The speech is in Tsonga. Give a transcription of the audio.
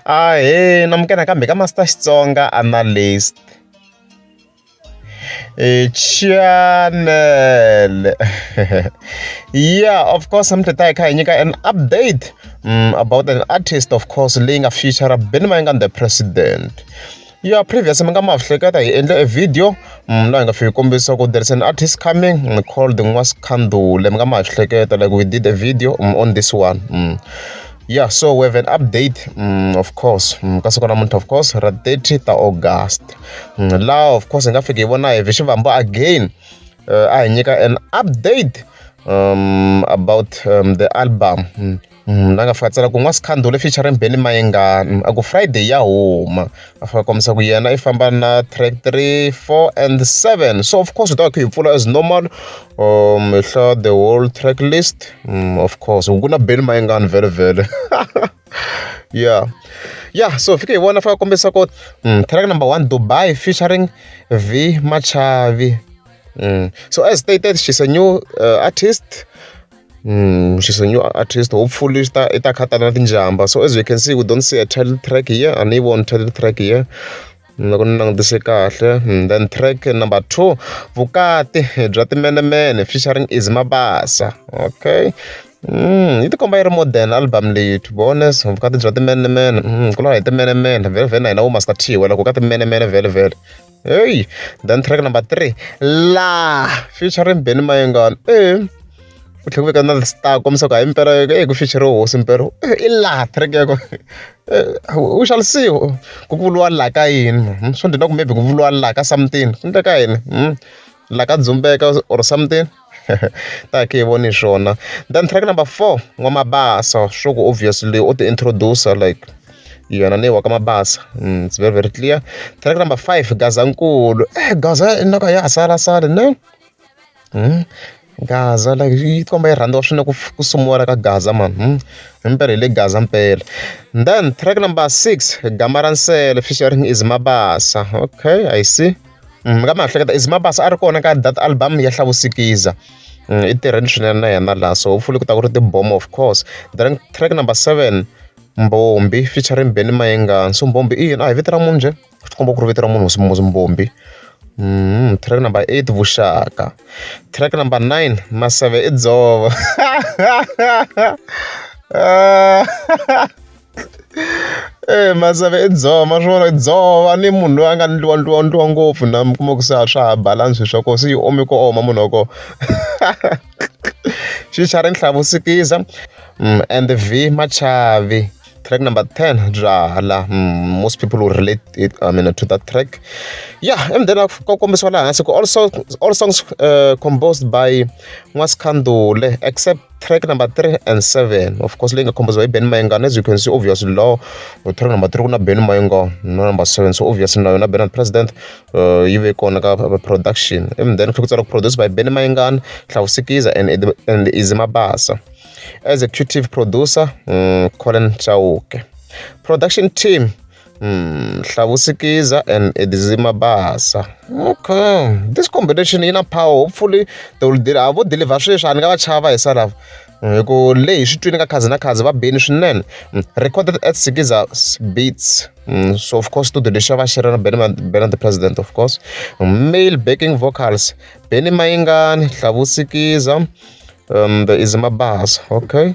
Ahee namukela nakambe ka Master Xitsonga Analyst channel yeah of course I'm hi kha hi nyika an update mm, about an artist of course leyi nga feature Benny Mayengani the president ya previous mi nga ma hleketa hi endle e video mm, laha hi nga fiki kombisa ku there is an artist coming mm, called n'wasikhandule mi nga ma hleketa like we did a video mm, on this one mm. yeah so we have an update mm, of course mm, ka siku namuntlha of course ra 30 ta august mm, laha of course hi nga fiki hi vona hi vixivambo again uh, a hi nyika an update um, about um, the album mm. la nga fika a tsala ku N'wasikhandula featuring Benny Mayengani a ku Friday ya huma a fika a kombisa ku yena i famba na track three four and seven so of course hi ta va kha hi pfula as normal um hi hlaya the whole track list mm, of course ku na Benny Mayengani vele vele yeah yeah so fike hi vona fika kombisa ku mm, track number one Dubai featuring V Machavi mm. so as stated she's a new uh, artist Hmm, she's a new artist. Hopefully, it's that it's Katana Tinjamba. So as you can see, we don't see a title track here, and even one title track here. loko ni langutise kahle hmm, then track number two vukati bya timenemene featuring is mabasa okay Mm, yi tikomba yi ri modern album leyi to be honest vukati bya timenemene mm, ku lava hi timenemene vhele vhele na hina vo master t wela ku ka timenemene vhele vhele heyi then track number three la featuring benny mayengana e ku tlhela ku veka na star kombisa ku hayi mpela e ku feature hosi mpela i la track yako u xalisiwa ku vuliwa la ka yini hmm, swo ndzi na ku maybe ku vuliwa la ka something ku endleka yini hmm, la ka dzumbeka or something hi yi voni swona then track number four N'wamabasa swa ku obviously u ti introduce like yena ni wa ka Mabasa it's very very clear track number five Gazankulu eh Gaza i nyoka ya ha sala sala ne Gaza like yi komba yi rhandziwa swinene ku ku sungula ka Gaza man himpela hi le Gaza mpela then track number six Gama ra nsele featuring Eazy Mabasa okay I see. mi nga mi ha hleketa is mabasa a ri kona ka that album ya hlavusikiza mm, i tirheni swinene na yena laha so hopefully ku ta ku ri tibom of course then track number seven mbombi featuring beny mayengani so mbombi i yini a hi vito ra munhu njhe swi komba ku ri vito ra munhu mbombi Mm, track number eight vuxaka track number nine maseve i dzova Eh Mazava i dzova ma swi vona dzova ni munhu loyi a nga ndliwa ndliwa ndliwa ngopfu na mi kuma ku se a swa ha balance swa kona se yi ome ku oma munhu wa kona xi xa ri nhlavu sikiza and vmachavi track number ten byalwa most people will relate it I mean to that track ya and then ku kombisiwa laha hansi ku also all songs composed by n'waskhandule except. track number three and seven of course leyi nga khombisiwa hi ben mayengana as you can see obviously law track number three ku na ben mayenga na number seven so obviously na yona benard president uh, yi ve kona ka production and then kha ku tsala ku produce by ben mayengana hlawusikiza and, and izi mabasa executive producer um, colin chauke production team Hmm, Hlavusikiza and Edzima Basa. Okay. This combination yi na power. Hopefully they will deal. A vo deliver sweswi a ni nga va chava hi salava. Hmm, hi ku leyi swi twini ka khazi na khazi va beni swinene. Hmm, recorded at Sikiza Beats. Hmm, so of course studio lexi va xi ri na Benny Benny the President of course. Male backing vocals. Benny Mayingani, Hlavusikiza, um, the Izima Basa. Okay.